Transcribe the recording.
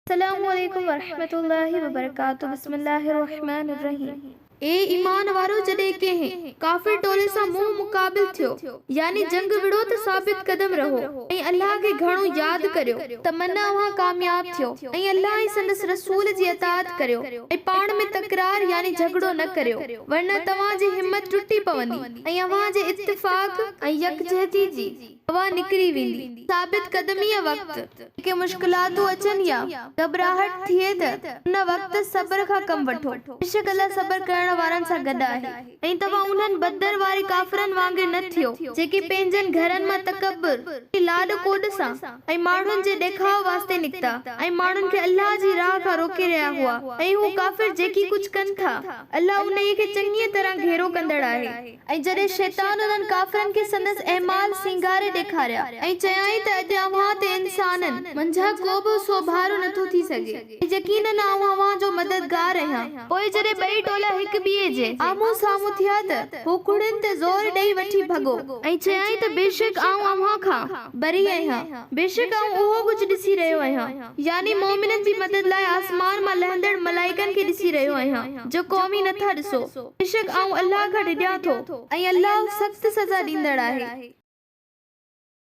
السلام عليڪم ورحمة الله وبرڪاته بسم الله الرحمٰن الرحيم. اي ايمان وارؤ جڏهن ڪنهن، ڪافر ٽولي سان منهن مقابل ٿيو، يعني جنگ وڙهو ته ثابت قدم رهو ۽ الله کي گهڻو ياد ڪريو ته من اوهان ڪامياب ٿيو ۽ الله ۽ سندس رسول جي اطاعت ڪريو ۽ پاڻ ۾ تڪرار يعني جهڳڙو نه ڪريو ورنه توهان جي همت ٽٽي پوندي. ۽ اوهان جي اتفاق ۽ يڪجهتي جي هوا نڪري ويندي. ثابت قدميء وقت جيڪي مشڪلاتون اچن يا گهٻراهٽ ٿئي ته ان وقت صبر کان ڪم وٺو. بيشڪ الله صبر ڪرڻ وارن سان گڏ آهي. ۽ توهان انهن بدر واري ڪافرن وانگر نه ٿيو جيڪي پنهنجن گهرن مان تڪبر ۽ لاڏ ڪوڏ سان ۽ ماڻهن جي ڏيکاء واسطي نڪتا ۽ ماڻهن کي الله جي راهه کان روڪي رهيا هئا ۽ هو ڪافر جيڪي ڪجهه ڪن ٿا الله انهيء کي چڱيء طرح گهيرو ڪندڙ آهي. ۽ جڏهن شيطان انهن ڪافرن کي سندس اعمال سينگاري ڏيکاريا، ۽ چيائين ته اڄ اوهان تي انسانن، منجهان ڪو به سوڀارو نه ٿو ٿي سگهي، ۽ يقيناً آئون اوهان جو مددگار آهيان. پوء جڏهن ٻئي ٽولا هڪ ٻئي جي آمهون سامهون ٿيا ته هو ڪهڙين تي زور ڏيئي وٺي ڀڳو. ۽ چيائين ته بيشڪ آئون اوهان کان بري آهيان، بيشڪ آئون اهو ڪجهه ڏسي رهيو آهيان. يعني مؤمنن جي مدد لاء آسمان مان لهندڙ ملائڪن کي ڏسي رهيو آهيان، جو قومي نه ٿا ڏسو، بيشڪ آئون الله کان ڊڄان ٿو، ۽ الله سخت سزا ڏيندڙ آهي.